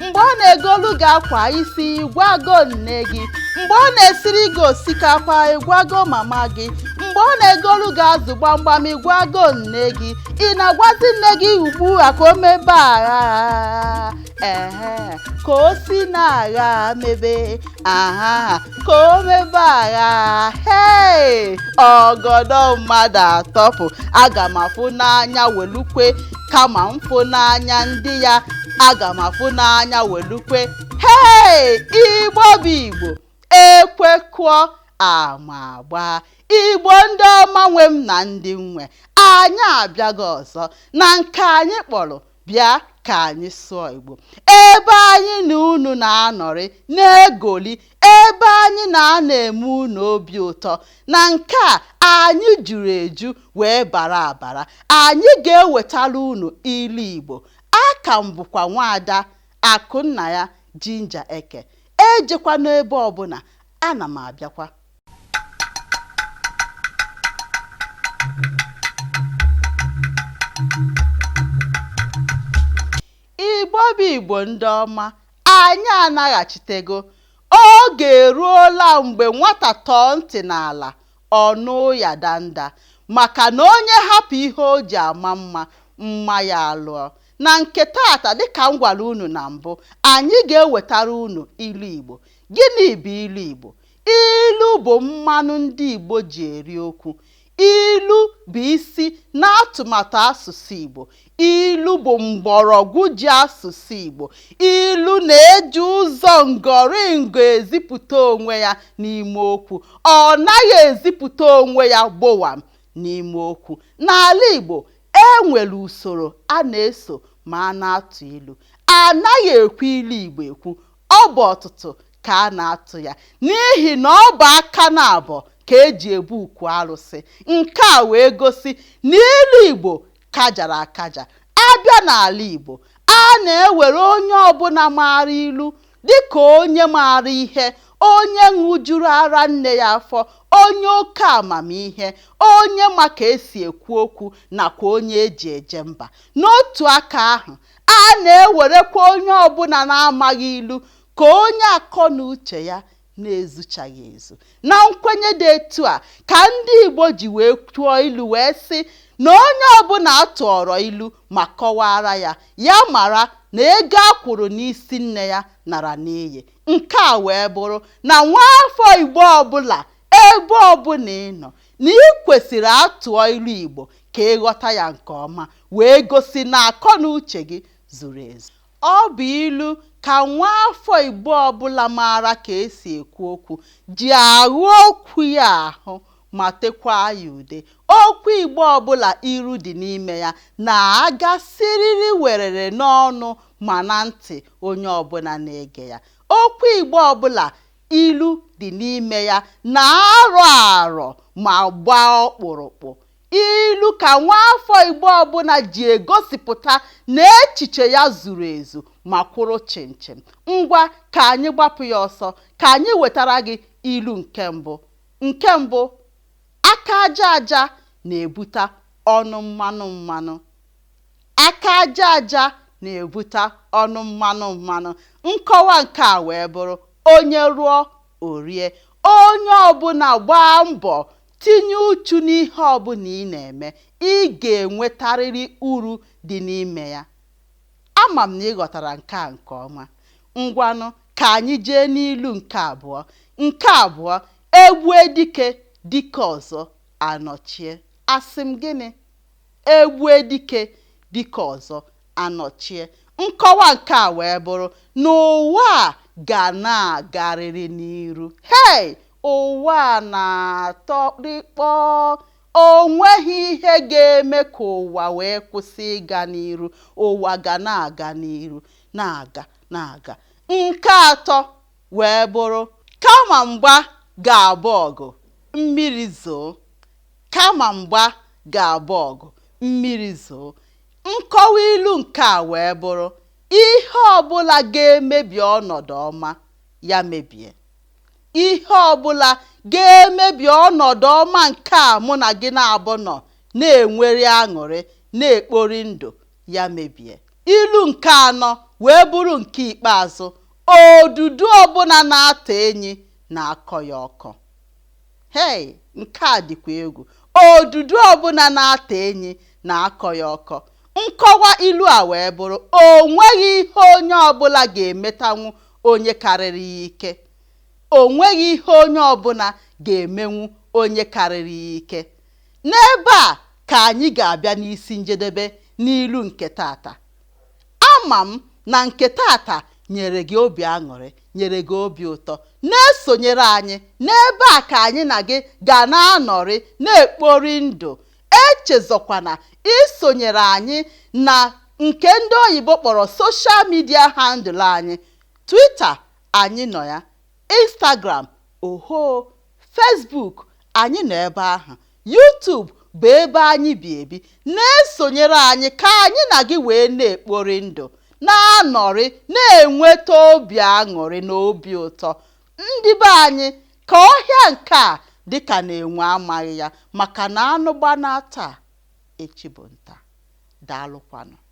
mgbe ọ na-egolu gị akwa isi ị gwago nne gị mgbe ọ na-esiri gị osikapa ị gwago mama gị mgbe ọ na-egolu gị azụ gbamgbam ị gwago nne gị ị na-agwazi nne gị ugbu a ka o mebe aghaa ehe ka o si n'aghaa mebe aha ka o mebe aghaa hei ọgọdọ mmadụ atọpụ aga m afụ n'anya welu kwe kama m fụ n'anya ndị ya aga m afụ n'anya welu kwe hei igbo bụ igbo ekwe kụọ ama agbaa igbo ndị ọma nwe m na ndị nwe anyị abịago ọzọ na nke anyị kpọrọ bịa ka anyị sụọ igbo ebe anyị na unu na-anọrị na-egoli ebe anyị na-anọ eme unu obi ụtọ na nke a anyị juru eju wee bara abara anyị ga-ewetara unu ilu igbo aka m bụkwa nwaada Akụnnaya Ginger Eke. Ejekwana ebe ọbụla, ana m abịakwa. Igbo bụ Igbo ndị ọma, anyị anaghachitego. Oge eruola mgbe nwata tọọ ntị n'ala, ọ nụ ụya danda maka na onye hapụ ihe o ji ama mma, mma ya alụọ. Na nke taata, dịka m gwara unu na mbụ, anyị ga-ewetara unu ilu Igbo. Gịnị bụ ilu Igbo? Ilu bụ mmanụ ndị Igbo ji eri okwu. Ilu bụ isi n'atụmatụ asụsụ Igbo. Ilu bụ mgbọrọgwụ ji asụsụ Igbo. Ilu na-eji ụzọ ngọrịngọ ezipụta onwe ya n'ime okwu. Ọ naghị ezipụta onwe ya gbowam n'ime okwu. N'ala Igbo, E nwere usoro a na-eso ma a na-atụ ilu. A naghị ekwu ilu Igbo ekwu. Ọ bụ ọtụtụ ka a na-atụ ya n'ihi na ọ bụ aka naabọ ka e ji ebu ukwu arụsị. Nke a wee gosi na ilu Igbo kajara akaja. A bịa n'ala Igbo, a na-ewere onye ọbụla maara ilu Dị ka onye maara ihe, onye ṅụjuru ara nne ya afọ, onye oke amamihe, onye ma ka e si ekwu okwu, nakwa onye e ji eje mba. N'otu aka ahụ, a na-ewerekwa onye ọ bụla na-amaghị ilu ka onye akọnuche ya na-ezuchaghị ezu na nkwenye dị etu a ka ndị Igbo ji wee tụọ ilu wee sị na onye ọbụla a tụọrọ ilu ma kọwaara ya ya mara na ego a kwụrụ n'isi nne ya nara n'iyi nke a wee bụrụ na nwa afọ Igbo ọbụla ebe ọbụla ị nọ na ị kwesịrị a tụọ ilu Igbo ka ị ghọta ya nke ọma wee gosi na akọ na uche gị zuru ezu Ọ bụ ilu ka nwaafọ Igbo ọbụla maara ka e si ekwu okwu ji aghụ okwu ya ahụ ma tekwaa ya ude. Okwu Igbo ọbụla ilu dị n'ime ya na-aga siriri werere n'ọnụ ma na ntị onye ọbụla na-ege ya. Okwu Igbo ọbụla ilu dị n'ime ya na-arọ arọ ma gbaa ọkpụrụkpụ. Ilu ka nwaafọ Igbo ọbụla ji egosipụta na echiche ya zuru ezu ma kwụrụ chịm chịm. Ngwa ka anyị gbapụ ya ọsọ ka anyị wetara gị ilu nke mbụ. Nke mbụ, aka aja aja na-ebuta ọnụ mmanụ mmanụ. Aka aja aja na-ebuta ọnụ mmanụ mmanụ. Nkọwa nke a wee bụrụ onye rụọ o rie. Onye ọbụla gbaa mbọ Tinye uchu n'ihe ọ bụla ị na-eme, ị ga-enwetarịrị uru dị n'ime ya. Ama m na ị ghọtara nke a nke ọma. Ngwanụ, ka anyị jee n'ilu nke abụọ. Nke abụọ, E gbue dike, dike ọzọ anọchie. Asị m gịnị? E gbue dike, dike ọzọ anọchie. Nkọwa nke a wee bụrụ na ụwa a ga na-agarịrị n'iru. Hei! Ụwa a na-atọ rịkpọọ. O nweghị ihe ga-eme ka ụwa wee kwụsị ịga n'iru. Ụwa ga na-aga n'iru, na-aga, na-aga. Nke atọ wee bụrụ kama mgba ga-abụ ọgụ, mmiri zoo. Kama mgba ga-abụ ọgụ, mmiri zoo. Nkọwa ilu nke a wee bụrụ, Ihe ọ bụla ga-emebi ọnọdụ ọma, ya mebie. Ihe ọ bụla ga-emebi ọnọdụ ọma nke a mụ na gị naabọ nọ na-enwere aṅụrị, na-ekpori ndụ, ya mebie. Ilu nke anọ wee bụrụ nke ikpeazụ, Odudu ọbụla na-ata enyi na-akọ ya ọkọ. Hei, nke a dịkwa egwu! Odudu ọbụla na-ata enyi na-akọ ya ọkọ. Nkọwa ilu a wee bụrụ, O nweghị ihe onye ọbụla ga-emetanwu onye karịrị ya ike. O nweghị ihe onye ọbụla ga-emenwu onye karịrị ya ike. N'ebe a ka anyị ga-abịa n'isi njedebe n'ilu nke taata. Ama m na nke taata nyere gị obi aṅụrị, nyere gị obi ụtọ. Na-esonyere anyị n'ebe a ka anyị na gị ga na-anọrị na-ekpori ndụ. Echezọkwana isonyere anyị na nke ndị oyibo kpọrọ social media handle anyị, Twitter, anyị nọ ya. Instagram, ohoo, Facebook, anyị nọ ebe ahụ, YouTube bụ ebe anyị bi ebi. Na-esonyere anyị ka anyị na gị wee na-ekpori ndụ, na-anọrị, na-enweta obi aṅụrị na obi ụtọ. Ndị be anyị, ka ọhịa nke a dị ka na enwe amaghị ya maka na anụ gbanaa taa, echi bụ nta. Daalụkwanụ.